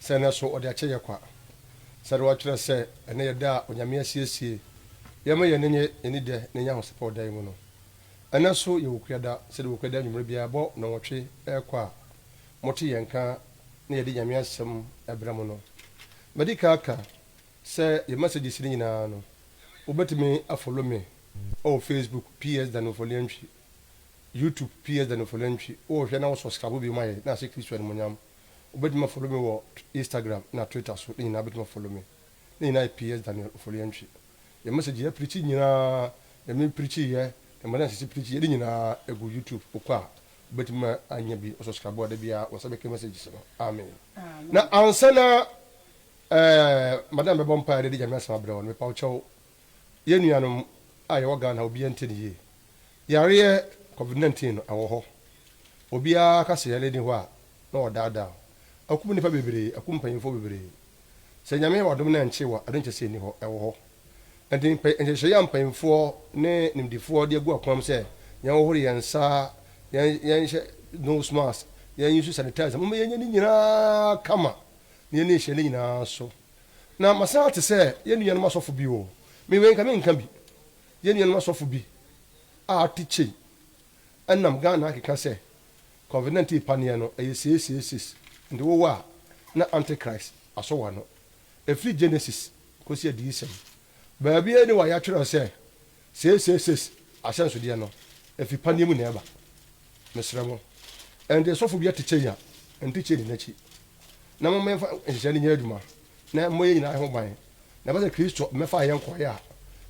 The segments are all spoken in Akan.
sɛ ɛnnɛ so ɔde akyɛ yɛ kwa. Sɛnea wɔkyerɛ sɛ ɛnnɛ yɛ da a Onyame asiesie yɛn ma yɛn ani nni dɛ na yɛanya ahosɛpɛw da yi mu no, ɛnnɛ so yɛ Wokuada. Sɛnea Wokuada anwummere biara bɔ nnɔnwɔtwe rekɔ a mote yɛn nka na yɛde Nyame Asɛm brɛ mo no, madi kan aka sɛ yɛn messages no nyinaa no, wobetumi afolo me wɔ Facebook, PS. Daniel Foliantwi, YouTube, PS. Daniel Foliantwi, wohwɛ na wo subscribe bio ma yɛn na ahyɛ Kristo animuonyam. Wobɛtumi a follow me wɔ Instagram na Twitter so ne nyinaa bɛtumi a follow me. Ne nyinaa yɛ PS Daniel Ofori-Antwi. Yɛ message yɛ preachi nyinaa, deɛ me preachi yɛ, deɛ Madam Sisi preachi yɛ ne nyinaa ɛgu YouTube wokɔ a wobɛtumi a nya bi. Wo subscribe a da biara wo nsa bɛka messages no. Amen. Na ansa na eh Madam bɛbɔ mpaeɛ de de Nyame asɛm abrɛ wo no, mepa wo kyɛw, Yɛn nuanom a yɛwɔ Ghana obiara nte no yie. Yareɛ covid 19 no ɛwɔ hɔ. Obiara ka sɛ yareɛ nni hɔ a na ɔredaadaa wo. Akum nnipa bebree, akum mpanyimfoɔ bebree. Sɛ Nyame yɛ w'adom na ɛnkyee wo a, ɛno nkyerɛ sɛ ɛnni hɔ, ɛwɔ hɔ. Ɛnti nhyehyɛeɛ a mpanyimfoɔ ne nimdefoɔ de agu akwan mu sɛ yɛnhohoro yɛn nsa, yɛn yɛnhyɛ nose mask, yɛn use sanitizer, momma yɛnyɛ ne nyinaa kama na yɛnni nhyehyɛeɛ no nyinaa so. Na masan ate sɛ yɛn nuanom asɔfo bi wɔ. Me wei nka menka bi. Yɛn nuanom asɔfo bi a ate kyei nam Ghana akeka sɛ Covid 19 paneɛ no ɛyɛ seeseisees nti wo wɔ a na Antichrist asɔ wo ano. Ɛfiri Genesis kɔsi Adiyisɛm baabiara ni wɔ a yɛatwerɛ sɛ seeseisees ahyɛnsodeɛ no ɛfiri paneɛ mu na ɛba. Mesrɛ mo, ɛnde sɔfo bi atekyɛ yi a, ɛntekyɛ nni n'akyi, na momma yɛmfa nhyehyɛe no nyɛ adwuma, na ɛmmɔ yɛn nyinaa ho ban, na ɛba sɛ Kristo mmɛfaa yɛn nkɔe a,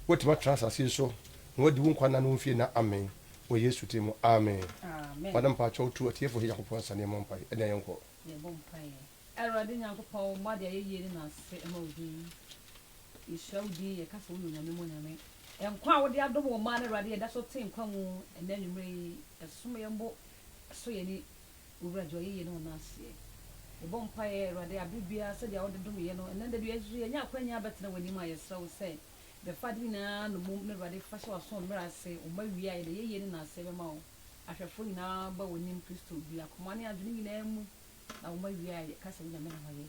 woatumi atra asase yi so, na woadi wo nkwa nna no mfie nna. Amen. Wɔ Yesu din mu, amen. Amen. Ɔde mpaakyɛw to atiefo he Nyankopɔn nsa na yɛmmɔ mpae, na yɛnkɔ. Yɛbɔ mpaeɛ. Awurade Nyankopɔn, wo mma de ayɛyie ne naase ma wo din. Yɛhyira wo din, yɛka sɛ woyɛ Onyame mu Onyame. Nkwa a wode adom wo mma no, Awurade, yɛda so te nkwa mu ɛnnɛ anwummerɛ yi. Ɛsom yɛn bo, ɛsɔ yɛn ani. Wo Wura gye w'ayɛyie ne wo naaseɛ. Yɛbɔ mpaeɛ, Awurade, aberɛ biara sɛdeɛ wode dom yɛn no, ɛnnɛ da bi nso yɛanya akwanya abɛtena w'anim a yɛsrɛ wo sɛ, bɛfa ade nyinaa nnommum na, Awurade, fa hyɛ w'asom mmerɛ ase. Wo mma wie a, yɛde ayɛyie ne naaseɛ bɛma wo. Ahwɛfoɔ nyinaa ba w'anim, Kristo, biakomaa ne adwene nyinaa mu. na wo mma wia yɛ ka sɛ Onyame na wayɛ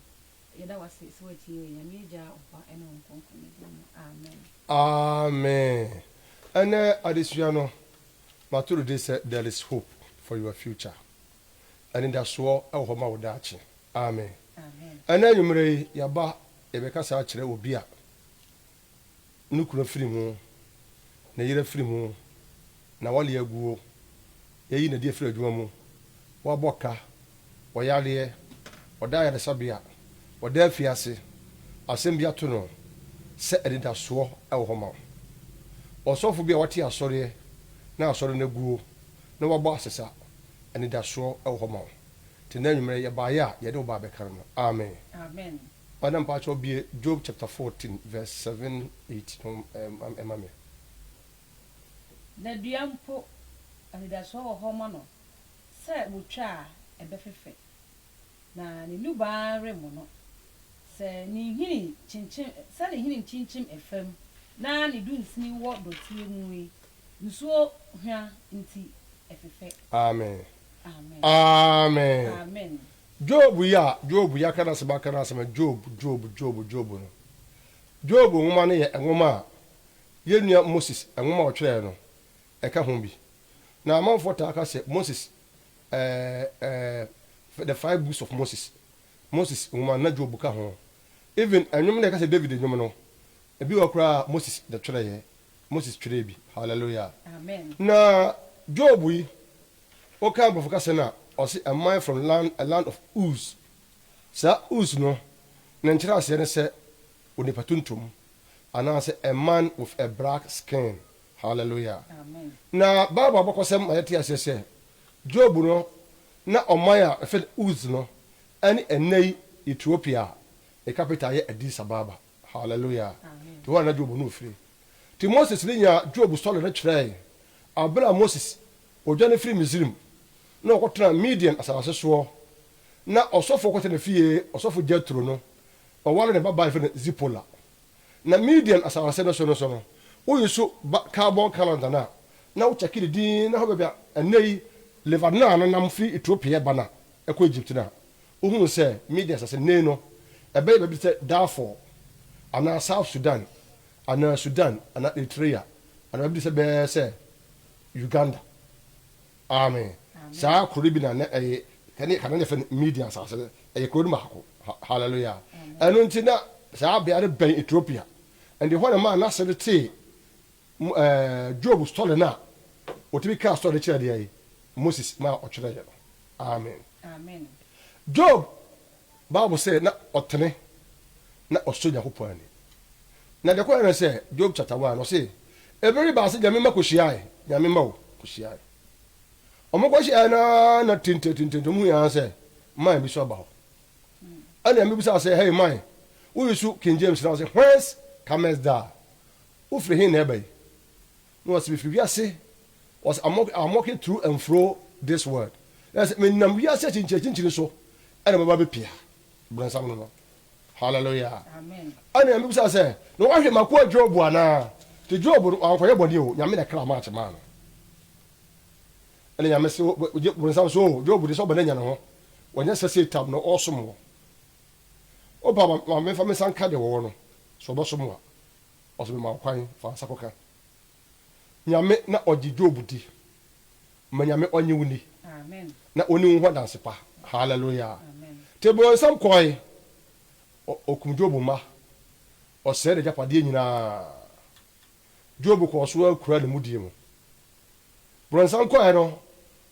yɛda wase sɛ watie yɛn Nyame Agya Ɔba ne Honhom Kronkron ne din mu Amen. Amen Ɛnɛ adesua no mato no din sɛ There is Hope for Your Future, Anidasoɔ wɔ hɔ ma wo daakye. Amen Ɛnɛ anwummerɛ yi yɛaba yɛbɛkasa akyerɛ obi a no kunu afiri ho, ne yere afiri ho, na wɔale aguo, yɛayi Nadi afiri adwuma mu, wɔabɔ ka, ɔyareɛ, ɔda ayaresabea, ɔda afiase, asɛm bi ato no sɛ anidasoɔ wɔ hɔ ma wo. Ɔsɔfo bi a wate asɔreɛ na asɔre no aguo na wabɔ asesa, anidasoɔ wɔ hɔ ma wo. Te nnɛ anwummerɛ yɛbaeɛ a yɛde wo baa bɛka no no. Amen. Ɔ na mpakyɛw bue Job chapter fourteen verse seven, eight no ma me. Na dua mpo, anidasoɔ wɔ hɔ ma no, sɛ wɔtwa a, ɛbɛfefɛ, na ne nnubaa remmono, sɛ ne nhini kyinkyim, sɛ ne nhini nkyinkyim fam, na ne dunsini wɔ dɔteɛ mu yi, nsuo hwa nti, ɛfefɛ. Amen. Amen. Amen. Amen. Job yi a Job yi aka n'asɛm aka n'asɛm no, Job, Job, Job, Job no. Job nwoma no yɛ nwoma a yɛn nua Moses nwoma a ɔtwerɛeɛ no, ɛka ho bi. Na amanfoɔ taa ka sɛ Moses, ɛɛ, ɛɛ, the five books of Moses, Moses nwoma no, na Job ka ho. Even nnwom no a yɛka sɛ David nnwom no, ebi wɔ hɔ koraa a Moses na ɔtwerɛeɛ, Moses twerɛɛ bi. Hallelujah. Amen. Na Job yi, Wokan Aborɔfo kasa no a, ɔse am I from land, a land of Uz? Saa Uz no, ne nkyerɛaseɛ ne sɛ onipa tuntum, anaasɛ a man with a black skin. Hallelujah! Na Bible abakɔsɛm ma yɛte aseɛ sɛ, Job no, na ɔman a wɔfrɛ no Uz no ne ɛnnɛyi Ethiopia a ne capital yɛ Addis Ababa. Hallelujah! Nti hɔ na na Job no firi. Nti Moses no nyaa Job story no kyerɛɛe. Berɛ a Moses Ɔdwane firii Misrim na ɔkɔtenaa Midian asase soɔ. Na ɔsɔfoɔ kɔtɛ ne fie, ɔsɔfo Jetro no, ɔwaree ne babaa a yɛfrɛ no Zipola. Na Midian asase no so no so no, woyi so ba carbon calendar no a, na wokyɛke ne din, na ɛhɔ baabi a ɛnnɛ yi Lebanon no nam firi Ethiopia ba no a ɛkɔ Egypt no a, wohuu sɛ Midian asase no, nnɛyi no, ɛbɛyɛ baabi te sɛ Darfur, anaa South Sudan, anaa Sudan, anaa Eritrea, anaa baabi te sɛ bɛɛ sɛ Uganda. Aane, saa kuro no bi na na ɛye, kane na yɛfrɛ no Midian asase no, ɛye kuro no baako. Hallelujah! Ɛno nti na saa bea no bɛn Ethiopia, and ɛhɔ na ɛmaa n'ase no tee ɛɛ Job story no a ɔtumi kaa story no kyerɛɛ deɛ? Moses, maa ɔtwerɛeɛ no. Amen. Job Bible sɛ na ɔtene na ɔsɔ Nyankopɔn ani. Na deɛ kɔɛ ne sɛ Job chapter one ɔse ebere baa se Nyame mma kɔhyiae Nyame mma o kɔhyiae ɔmo kɔhyiae no ara na tinte tinte nti ɔmo hui ara sɛ man bi so aba hɔ ɛne Nyame bisaa sɛ hey man wo resu King James na ɔse whence comest thou wofiri he na ɛba yi Na ɔse mefi wiase, ɔse I'm walking, I'm walking through and fro this world, na sɛ menam wiase akyinkyini akyinkyini so ɛna mɛba bɛpia bronsam no no. Hallelujah. Ɛna Nyame bisa sɛ, na woahwɛ m'akoa Job anaa? Nti Job no wankɔyɛ bɔne o, Nyame na ɛkra match maa no. Ɛna Nyame se, gye bronsam so o, Job de sɛ ɔbɛn anya ne ho, wanya sɛ Satan na ɔɔsom wɔ. Wopa ma menfa me nsa nka deɛ wɔwɔ no, sɛ ɔbɛsom wo a. Ɔso mema wo kwan fa nsa kɔka Nyame na ɔgye Job di Ma Nyame ɔnye wo ni Na ɔni wo ho adanse pa Hallelujah Te bronsam kɔɔe Ɔkum Job mma Ɔsɛe n'agyapadeɛ nyinaa Job kɔɔ so ara kura ne mudie mu Bronsam kɔɔe no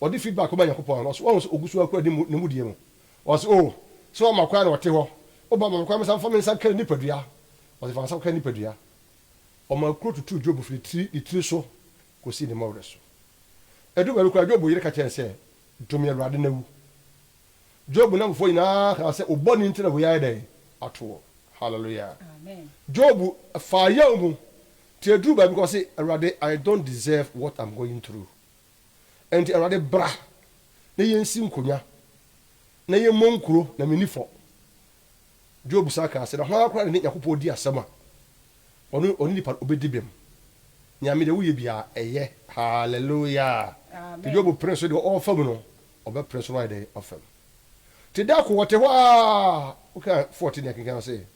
Ɔde feedback kɔma Nyankopɔn Ɔso wahu sɛ ɔgu so ara kura ne mudie mu Ɔse oh, sɛ ɔma kwan na ɔte hɔ, O ba ma me kwan mensan mfa me nsa nka ne nipadua. Ɔse fa wo nsa kɔka ne nipadua. Ɔmaa kuro tutuu Job firi ne tiri so kɔsii ne mmɔwerɛ so. Ɛduru baabi koraa Job yere ka kyerɛɛ no sɛ, Dome Awurade na wu. Job nnamfofoɔ nyinaa kaa sɛ, Wo bɔne nti na wei ayɛ dɛn ato wo. Hallelujah. Job faa yaw mu, nti ɛduruu baabi koraa ɔse, Awurade, I don't deserve what I'm going through. Enti Awurade bra na yensi nkonya, na yɛmmɔ nkuro, na menni fɔ. Job san kaa sɛ, Na hwan koraa na ne Nyankopɔn di asɛm a ɔne ɔne nipa obedi bem? Nyame, deɛ woyɛ biara, ɛyɛ. Hallelujah! Nti Job pene so deɛ ɔwɔ fam no, ɔbɛpene so na wayɛ dɛn? Afam. Nti da ko ɔte hɔ ara, woka 14 ne akenkan ase,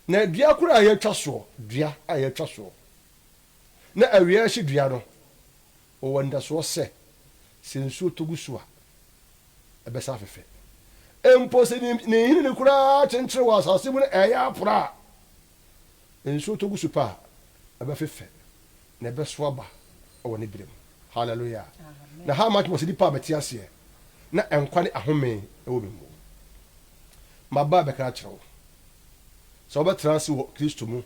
Na dua koro a yɛatwa soɔ, dua a yɛatwa soɔ, na awia rehye dua no, Wɔwɔ anidasoɔ sɛ, sɛ nsuo tɔ gu so a, ɛbɛsan afefɛ. Mpo sɛ ne ne nhini no koraa kyenkyere wɔ asase mu na ɛyɛ apora a, nsuo tɔ gu so pɛ a, ɛbɛfefɛ, na ɛbɛso aba wɔ ne berɛ mu. Hallelujah! Na how much more sɛ nipa a mete aseɛ na nkwa ne ahome wɔ me mu? Maba abɛka akyerɛ wo sɛ wobɛtena ase wɔ Kristo mu,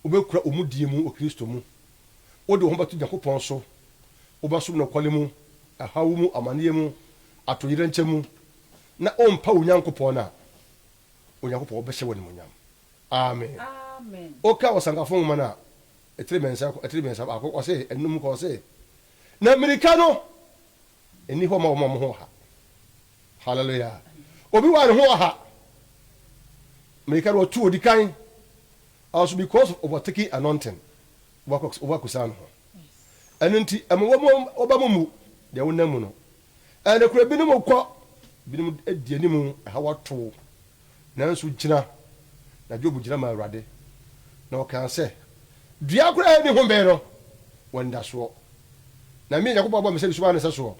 wobɛkura wo mudie mu wɔ Kristo mu, Wode wo ho bɛto Nyankopɔn so, wobɛsom nokware mu, ɛhaw mu, amanneɛ mu, atoyerɛnkyɛm mu, na wompa wo Nyankopɔn no a, Onyankopɔn bɛhyɛ wo animuonyam. Amen. Woka Ɔsankafo Nwoma no a, ɛtiri mmiɛnsa, ɛtiri mmiɛnsa, baako, ɔse, ɛnum kɔ, ɔse, na mmirika no nni hɔ ma wɔn a wɔn ho ɔha. Hallelujah. Obi wɔ a ne ho ɔha, mmirika no ɔtu odi kan, Also because of over taking anointing woakɔsra no ho ɛno nti ɛma woba mo mu deɛ wonam mu no ɛnokorɛ binom kɔ binom di anim ɛha wato wo nanso gyina na Job gyina ma Awurade na ɔkaa sɛ dua koraa ɛni ho bɛn no wɔ ndasoɔ na me Nyankopɔn abɔ me sɛ bisoma ne sɛ soɔ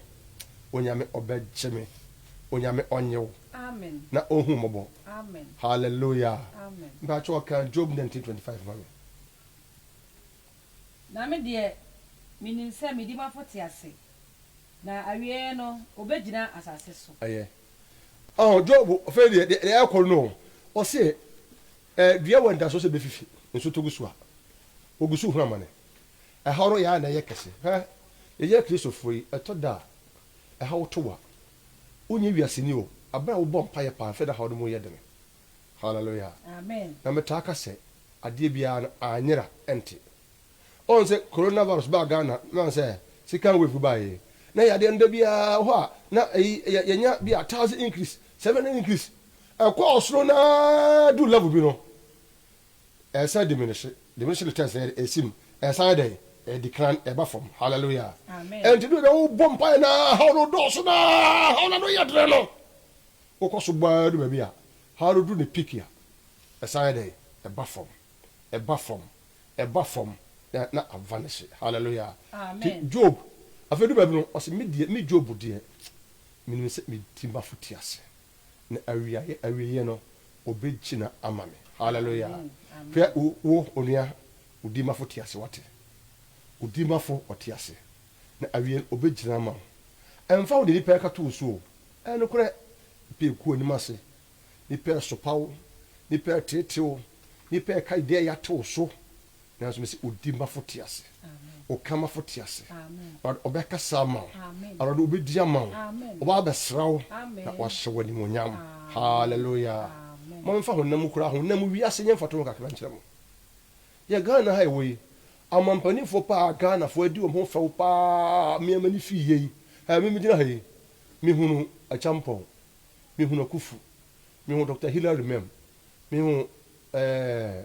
onyame ɔbɛgye me onyame ɔnyew na ɔhu mmɔbɔ. Hallelujah Amen. Mpakyɛw ka Job nineteen twenty five ma me. Na me deɛ, menim sɛ medi m'afo te ase, na awieeɛ no, ɔbɛgyina asase so. Ɛyɛ. Ɔho, Job, afei deɛ, deɛ ɛrekɔ no, ɔse, eh, dua wɔ anidasoɔ sɛ ɛbɛfifi, nso tɔ gu so a, wɔgu so hu amane. Ɛhaw no yɛ a na ɛyɛ kɛse. Hwɛ, yɛyɛ Kristofoɔ yi, ɛtɔ da a, ɛhaw to wo a, Wonyɛ wiaseni o, bere a wobɔ mpaeɛ paa mfe da haw no mu yɛ dene. Hallelujah. Na me taa ka sɛ, adeɛ biara no, anyera nte. Woahu sɛ Corona virus baa Ghana na woahu sɛ second wave baeɛ, na yadeɛ no da biara wɔ hɔ a na ɛyi yɛ yɛnya bi a thousand increase, seven hundred increase, ɛkɔ ɔsoro na adu level bi no, Ɛsɛ diminihye, diminishing returns, na yɛde ɛsi mu. Ɛsan yɛ dɛn? Ɛdi kan, ɛba fam. Hallelujah! Ɛnti ɛduru baabi a wobɔ mpaeɛ na haw no dɔɔso na haw no ano yɛ dene no, wokɔ so bɔ ara du baabi a haw no duru ne peak a, ɛsan yɛ dɛn? Ɛba fam, ɛba fam, ɛba fam, na na avanishe. Hallelujah! Nti Job, afei ɛduru baabi no, ɔse, Me deɛ, me Job deɛ, menim sɛ me tirimafo te aseɛ. na awiaeɛ awieɛ no ɔbɛgyina ama me hallelujah Amen. hwɛ wo wo onua odimafo te ase wate odimafo ɔte ase na awieɛ no ɔbɛgyina ama wo ɛmfa wo de nipa ɛka to wo so o ɛnokorɛ nipa ɛku anim ase nipa ɛsopa wo nipa ɛtete wo nipa ɛka deɛ ɛyɛ ate wo so nanso me sɛ odi mafo te ase ɔka mafo te ase awurade ɔbɛkasa ama wo awurade ɔbɛdi ama wo ɔba abɛsra wo na wahyɛ wo animonyam halleluya ma memfa honam kura honam wiase nyɛ mfato ho kakra nkyerɛ mo yɛ ghana ha ɛwɔ yi amampanifoɔ paa ghanafoɔ adi wɔn ho fɛw paa mmeɛma ne fii yɛ yi memigyina ha yi mehunu akyampɔn mehunu akufu mehunu dr hillary mem mehunu eh,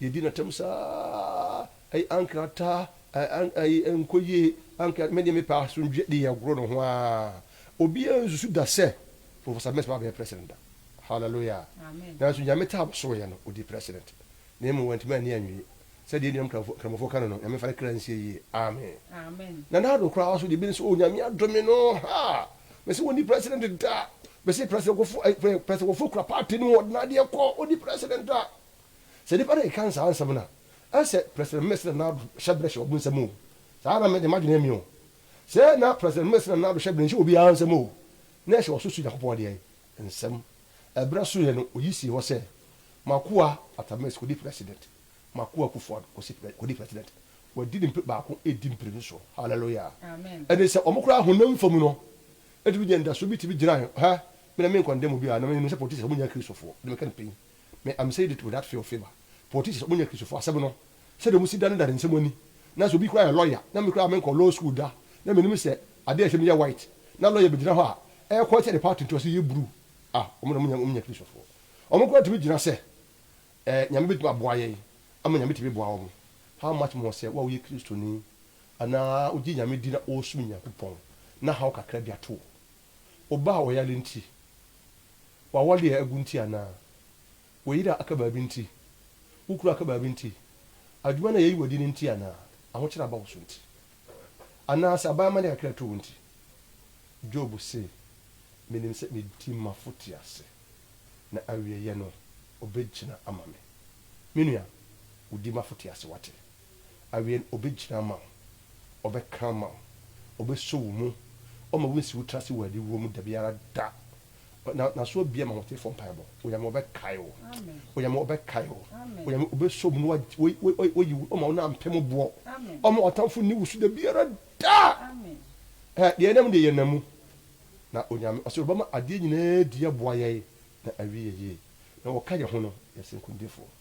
Yɛdi no atɛm saa ara, Ayi ankrah taa, Ayi ayi ɛnkɔ yie, Ankrah me deɛ me pɛ asomdwoeɛ de yɛgoro ne ho ara. Obiara nsusu da sɛ Professor Mensah bɛyɛ President da. Hallelujah! Nanso Nyame taa no soeɛ no, ɔdii President. Na mmom wantumi anni anwie. Sɛdeɛ yɛn nuanom Nkramofoɔ ka no no, Nyame mfa ne kra nsie yie. Amen! Na Nana Addo koraa nso deɛ, ebi ne sɛ, Oh, Nyame adome no, ha! Mese ɔnni President da. Mese President Kufuor, eh, President Kufuor kura party no, ɔde n'adeɛ kɔ, ɔnni President da. Sɛ nnipa no keka saa nsɛm no a, ɛsɛ President Messina Nado hyɛbrɛ hyɛ wɔn nsɛm oo, saa ara na me de, m'adwene emi oo. Sɛ na President Messina Nado hyɛbrɛ nhyɛ obiara nsɛm oo, na ɛhyɛ ɔso so Nyankopɔn deɛ nsɛm. Ɛberɛ soeɛ no, ɔyi sii hɔ sɛ, M'akoa Attames kɔdi President, m'akoa Kuffo Addo kɔsi pre, kɔdi President. Wadi ne mpe baako redi mpire no soɔ. Hallelujah! Ɛne sɛ, wɔn koraa honam fam no, ɛtumi nya anidasoɔ bi tumi gyina, hɛ, me na menkɔndɛm obiara, na menim sɛ politicians, wɔnyɛ Akristofoɔ, ɛno meka no pɛn. Me am saying it without fear or favour, politicians ɔmo nyɛ Kristofo, asɛm no sɛdeɛ ɔmo si da no da ne nsɛm ani, nanso obi koraa yɛ lawyer na me koraa me nkɔɔ law school da na me nim sɛ adeɛ a ɛsɛ me yɛ white na lawyer bɛgyina hɔ a ɛyɛ kɔɔkyɛ ne party ntoaso yɛ bruu a ɔmo na ɔmo nyɛ ɔmo nyɛ Kristofo ɔmo koraa tumi gyina sɛ ɛɛ Nyame bɛtumi aboa yɛn ama Nyame tumi boa ɔmo how much more sɛ wo a woyɛ Kristoni anaa wogye Nyame di na wosom Nyankopɔn na haw kakra bi ato wo. Ɔba a ɔyare nti? W'awɔde a agu nti anaa? W'yere a aka baabi nti? Wo kunu a aka baabi nti? Adwuma no a yɛyi w'adi no nti anaa? Ahokyere a aba wo so nti? Anaa sɛ aban amane kakra to wo nti? Job se, Menim sɛ medi m'afo te ase, na awieɛ no ɔbɛgyina ama me. Me nua, wodi m'afo te ase, wate? Awiei no, obegyina ama wo, ɔbɛka ama wo, obeso wo mu, ɔmma wunsi wo tiri ase wɔ aniwuo mu da biara da. Na, N'aso abue ma ahotefoɔ mpaebɔ. Onyame, Ɔbɛkae wo. Onyame, Ɔbɛkae wo. Onyame, Obeso wo mu na wa, wayi wo, ɔmma wo nan mpem boɔ. Ɔmma w'atamfo nni wo so da biara da. Ɛ, deɛ yɛnam deɛ yɛnam mu. Na Onyame, Ɔse Ɔbɛma adeɛ nyinaa adi aboa yɛn na awie yɛ yie. Na wɔka yɛn ho no, yɛse nkonimdifoɔ.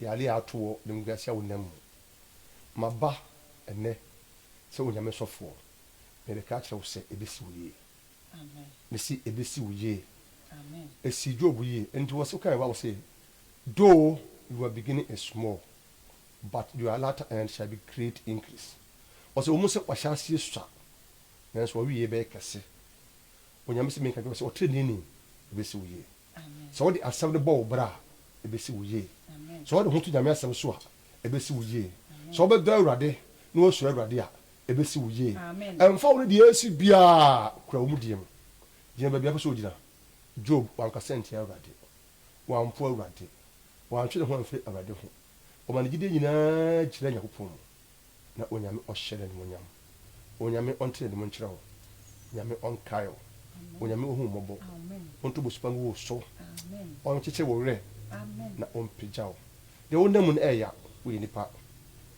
Yare a ato wo ne ngu ase a wonam mu. Maba ɛnnɛ sɛ Onyame sɔfoɔ, merebɛka akyerɛ wo sɛ ɛbɛsi wo yie. Mese ɛbɛsi wo yie. Ɛsii Job yie. Ɛnti wɔ se kae Bible se, Though you are beginning a small, but your latter end shall be great increase. Ɔse wɔ mu sɛ wahyɛ aseɛ sua, nanso w'awieɛ bɛyɛ kɛse. Onyame se menka nkyerɛ wo sɛ ɔtreneeni, ɛbɛsi wo yie. Sɛ wode asɛm no bɔ wo bra a, ɛbɛsi wo yie. Sɛ wode wo ho to Nyame asɛm so a, ɛbɛsi wo yie. Sɛ wobɛdɔ Awurade na woasuro Awurade a, ɛbɛsi wo yie. Ɛmfa wo ne deɛ ɛresi biara, kura wo mudie mu. Gyina baabi a wopɛ sɛ wogyina. Job, wankasa antia Awurade. Wampo Awurade. Wantwe ne ho amfiri Awurade ho. Ɔma ne gyidie nyinaa gyinaa Nyankopɔn mu. na Onyame ɔhyɛ n'animuonyam. Onyame ɔntene ne mu nkyerɛ wo. Nyame ɔnkae wo. Onyame ɔhu wo mmɔbɔ. Ɔnto bosuba ngu wo so. Ɔnkyekyere wo werɛ na ɔmpagya wo. Deɛ wonam mu no ɛya, woyɛ nipa.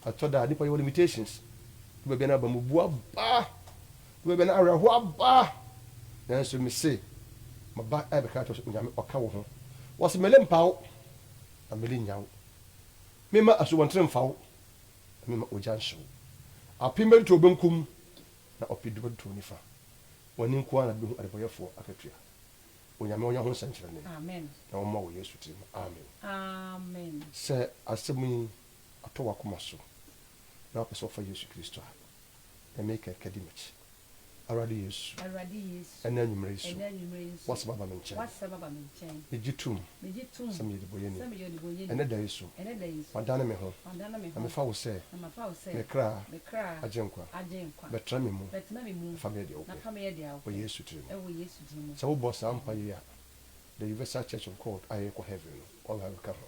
Ɛtɔ da a nipa yɛwɔ limitations. Duru baabi a na abamubuo aba. Duru baabi a na awerɛhoɔ aba. Nanso mese, maba ɛrebɛka akyerɛ wo sɛ Onyame ɔka wo ho. Ɔse mele mpa wo, na mele nya wo. Memma asubɔnten mfa wo, na memma ogya nhye wo. Apem bɛtoto wo benkum, na ɔpedu bɛtoto wo nifa. W'ani nko ara na behu adebɔyɛfoɔ akatua. Onyame ɔnyɛ ho nsɛnkyerɛnne, na wɔmmoa wɔ Yesu din mu, amen. Sɛ asɛm yi atɔ w'akoma so, na wopɛ sɛ wofa Yesu Kristo a, Nyame kɛnkɛn di m'akyi. Awurade Yesu, Awurade Yesu, ɛnnɛ anwummere yi so, ɛnnɛ anwummere yi so, w'Asɛm aba me nkyɛn. w'Asɛm aba me nkyɛn. Megye tom Megye tom sɛ meyɛ ɔdebɔneyɛni. sɛ meyɛ ɔdebɔneyɛni. Ɛnnɛ da yi so, Ɛnnɛ da yi so, madane me ho, madane me na ho, mefa wo sɛ na mafa wo sɛ me kra me kra agyenkwa. agyenkwa. Bɛtra me mu Bɛtra me mu na fa me yɛ deɛ na wopɛ, fa me yɛ deɛ wɔ wopɛ, Yesu tiri mu. wɔ Yesu din mu. Sɛ wobɔ saa mpaeɛ yi a, The Universal Church of God a yɛrekɔ heaven no, wɔn ara bɛka ho.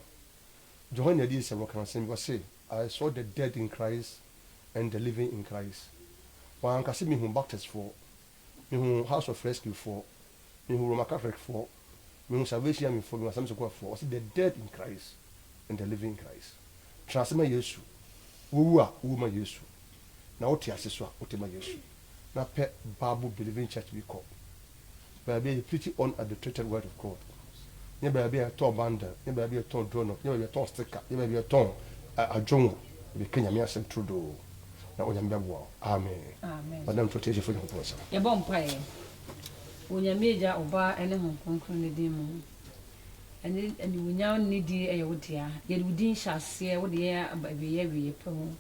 Johanne Adiyisɛm no ka asɛm bi, ɔse, I saw the dead in Christ and the living in Christ. Wanka sɛ mehu Baptist foɔ, mehu House of Rescue foɔ, mehu Roman Catholic foɔ, mehu Salvation Army foɔ, mehu Assemblies of God foɔ. Ɔse the dead in Christ and the living in Christ. Tra ase ma Yesu. Wowu a, wowu ma Yesu. Na wote ase so a, wote ma Yesu. Na pɛ Bible believing church bi kɔ. baabi a yɛ preachi on adulterated word of God, nyɛ baabi a yɛ tɔn bundle, nyɛ baabi a yɛ tɔn donut, nyɛ baabi a yɛ tɔn sticker, nyɛ baabi a yɛ tɔn adwonwa, yɛbɛ ka Nyame asɛm turodoo na Onyame bɛ boa wo. Amen. Amen. Ɔnam nso Teasefo Nyankopɔn nsam. Yɛbɔ mpaeɛ wɔ Nyame Agya, Ɔba ne Honhom Kronkron ne din mu. Ɛne animuonyam ne nidie yɛ wo dea. Yɛde wo din hyɛ aseɛ, wode yɛn aba awieɛ awieɛ pɛ mu.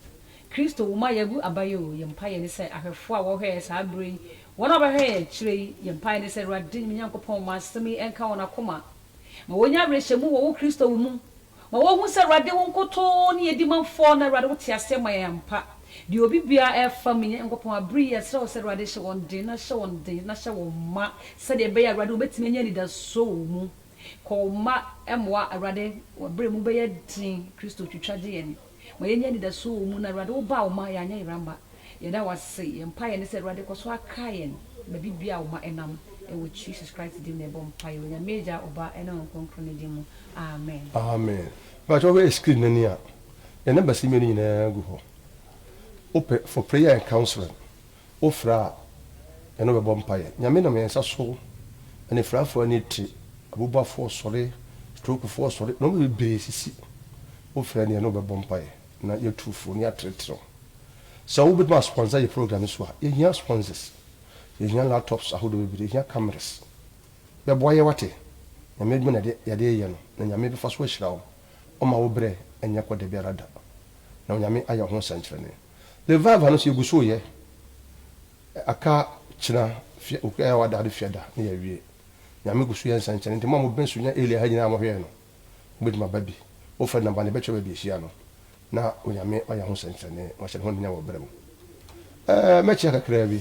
Kristo wu ma yɛagu aba yi o, yɛn mpaeɛ ne sɛ ahwɛfoɔ a wɔhwɛɛ saa berɛ yi, wɔn a wɔbɛhwɛ yɛn akyire yi, yɛn mpaeɛ ne sɛ Awurade me Nyankopɔn ma asɛm yi nka wɔn akoma, ma wɔnya awerɛhyɛmu wɔ wo Kristo wu mu, ma wɔnhu sɛ Awurade wo nkotoo ne yɛdi manfoɔ na Awurade wote aseɛ ma yɛn ampa, deɛ obi biara ɛfa me Nyankopɔn aberɛ yi yɛsrɛ wo sɛ Awurade hyɛ wɔn den na hyɛ wɔn den na hyɛ wɔn ma sɛdeɛ ɛbɛyɛ a Awurade wɔbɛtumi anya anidasoɔ wɔ wo mu, kɔ wo mma mmoa Awurade wɔn aberɛ mu bɛyɛ den Kristo twitwa gye yɛn. Ma yɛnnya anidasoɔ wɔ wo mu na Awurade wo baa wo mma yɛanyɛ yera mma. Yɛda wo ase. Yɛn mpaeɛ ne sɛ Awurade kɔ so akae yɛn baabi biara a wo mma nam. Ɛwɔ Jesus Christ din mu na yɛbɔ mpaeɛ wɔ Nyame Agya, Ɔba ne Honhom Kronkron no din mu. Amen. Amen mepakyɛ wo hwɛ screen no ani a yɛ numbers mmienu nyinaa gu hɔ wopɛ for prayer and counseling Wofrɛ a, yɛne wo bɛbɔ mpaeɛ. Nyame nam yɛn nsa so, anifirafoɔ ani te, abubuafoɔ sɔre, strokefoɔ sɔre, nnoɔma bebree sisi. Wofrɛ a ne yɛne wo bɛbɔ mpaeɛ na yɛatu fo na yɛatrɛtrɛ wo. Sɛ wobɛtumi a sponsor yɛ program yi so a, yɛhia sponsors, yɛhia laptops ahodoɔ bebree, yɛhia cameras. Bɛboa yɛn wate? Nyame adwuma na yɛde reyɛ no na Nyame bɛfa so ahyira wo. Ɔmma wo berɛ nyɛ kɔ dabiara da na Onyame ayɛ wo ho sɛnkyerɛnee. Ne vava no so yɛgu so yɛ aka kyena fia okua yɛ wada ade fia da ne yɛ wie nyame gu so yɛ nsɛnkyɛne nti mo a mo bɛn so nya elia ha nyinaa mo hwɛɛ no mo bɛtumi aba bi mo fɛ namba ne bɛkyɛ baabi ahyia no na onyame ɔyɛ ho nsɛnkyɛne mo ahyɛ ne ho anunyam wɔ berɛ mu ɛɛ mɛkyia kakraa bi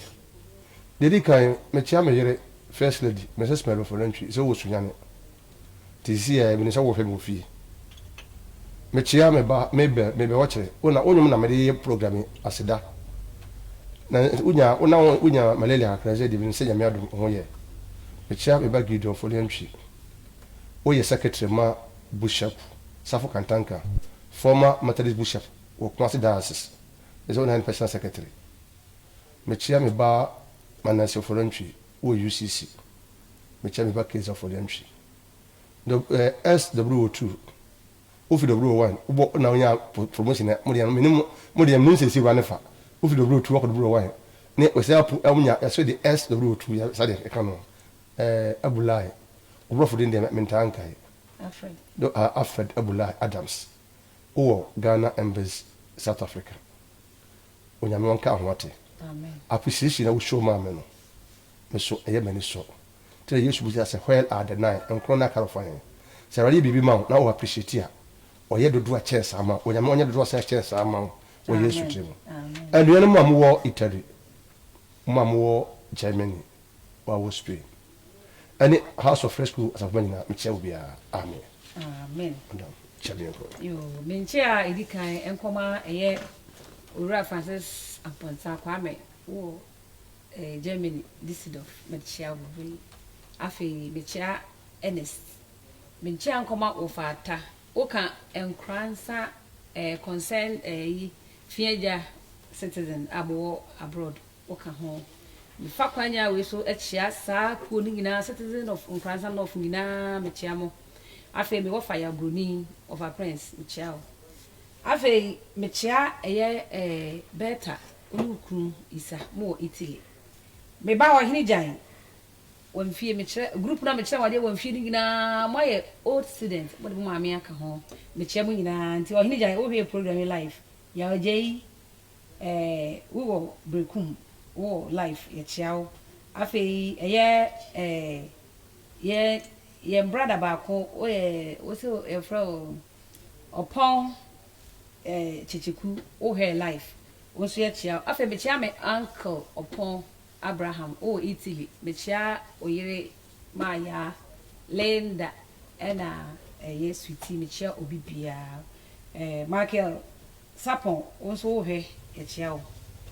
deɛ di kan mɛkyia me yere first lady mrs mɛrofo nantwi sɛ wɔ sunyane Te si ɛ, minim sɛ wohwɛ me wɔ fie. Mekyea me ba Mabel, Mabel ɔkyerɛ, wo na wo nwom na mede yɛ program yi aseda. Na wonya wo na wonya malaria kakra sɛ deɛ minim sɛ Nyame adom wo ho yɛ. Mekyea me ba Gideon Foliantwi, woyɛ secretary ma Bushap, Safo Kantanka, former Methodist Bushap wɔ Kumasi Diocese, ɛsɛ wo na yɛ ne personal secretary. Mekyea me ba Manasseh Ofori-Antwi wɔ UCC. mekyɛ me ba case afɔ deɛ nhwe eh SWO two wofi WO one wobɔ na wonya promotion ɛ mo deɛ mene mo deɛ mene nsɛsi wura ne fa wofi WO two wakɔ WO one ne wɔsɛ apu ɛwo nya yɛsɛ de SWO two yɛ sa deɛ ɛka no eh Abulai obrɔfo din deɛ mentaa nkae Alfred do ah Alfred Abulai Adams wowɔ Ghana Embassy South Africa Onyame ɔnka ho ate Amen appreciation a wo show maa me no. Me so ɛyɛ m'ani so. Nti na Yesu bisa sɛ where are the nine, nkron no aka no fa he? Sɛ Awurade yɛ biribi ma wo na wo appreciate a, ɔyɛ dodoɔ a kyɛn saa ma wo. Onyame ɔnyɛ dodoɔ saa kyɛn saa ma wo wɔ Yesu tiri mu. Anuanom a mowɔ Italy, mo a mowɔ Germany, mo a mowɔ Spain, ɛne House of Rescue asafo mma nyinaa, mekyia mo biara. Amen. Amen. Madam, kyia me yɛnkɔ. Yoo, me nkyia a ɛdi kan nkɔma ɛyɛ Owura Francis Amponsah Kwame wɔ Ɛyɛ Germany, Düsseldorf na mekyea wo bere yi. Afei mekyea Ernest. Mekyea Nkoma Wofaata. Woka Nkoransa eh, concern eh, yi, Fiagya citizen a mowɔ abroad, woka ho. Mefa kwanya wei so kyea saa kuo no nyinaa, citizen of Nkoransa North nyinaa, mekyea mo. Afei me wɔfa Yabroni, Wɔfa Prince, mekyea wo. Afei mekyea ɛyɛ eh, Bertha. Wo ne wo kunu Isa mo wɔ Italy. Me ba ɔhene Gyan wɔ mfie mekyerɛ group na mekyerɛ wɔn adeɛ wɔ mfie no nyinaa mo ayɛ old student mo de mo maame aka ho mekyerɛ mo nyinaa nti ɔhene Gyan wo hwɛ program yi live yɛ ɔgya yi ɛɛ wo wɔ brekum wo wɔ live yɛ kyea wo afei ɛyɛ ɛɛ yɛ yɛn brada baako wo yɛ wo se yɛfrɛ o ɔpɔn eh Kyekyeku wo hair life wo nso yɛ kyea afei mekyea me uncle Ɔpɔn Abraham wo wɔ Italy mekyea wo yere maayaa Linda ɛna ɛyɛ sweetie mekyea obi biaa eh Michael Sapon wo nso wo hwɛ yɛkyea wo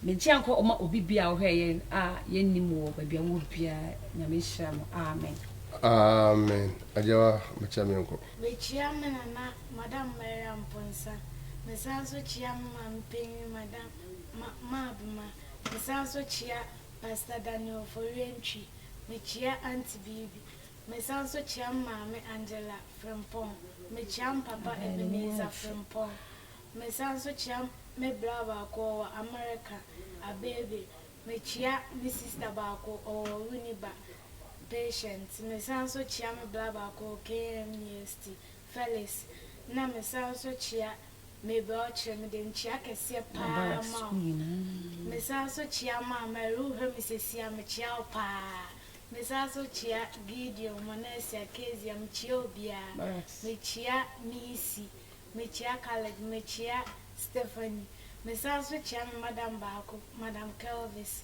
menkyea nkɔ ɔma obi biaa ɔhwɛ yɛn a yɛnnim wɔ baabi a wowɔ biaa Nyame nhyira mo amen. Amen agyawa mekyɛ menkɔ. Mekyea me nana Madam Maria Mponsa, mesan nso kyea me maame panyin Madam Ma Maa Bema, mesan nso kyea Pastor Daniel Oforiye Ntwi, mekyea Aunty Biibi, mesan nso kyea me maame Angela Frimpong, mekyea me papa Ebenezer Frimpong, mesan nso kyea me bra baako ɔwɔ America, Abebe, mekyea me sister baako ɔwɔ Winneba, Patience, mesan nso kyea me bra baako ɔwɔ KMUST, Felix, na mesan nso kyea Mabel kyerɛ mede nkyea kɛseɛ paa ma wo. Mesan nso kyea ma Marilou Hemisesia, mekyea wo paa. Mesan nso kyea Gideon, Monesia, Kezia, mekyea obiara. Mekyea Missy, mekyea Caleb, mekyea Stephanie. Mesan nso kyea me madam baako, Madam Kelvis.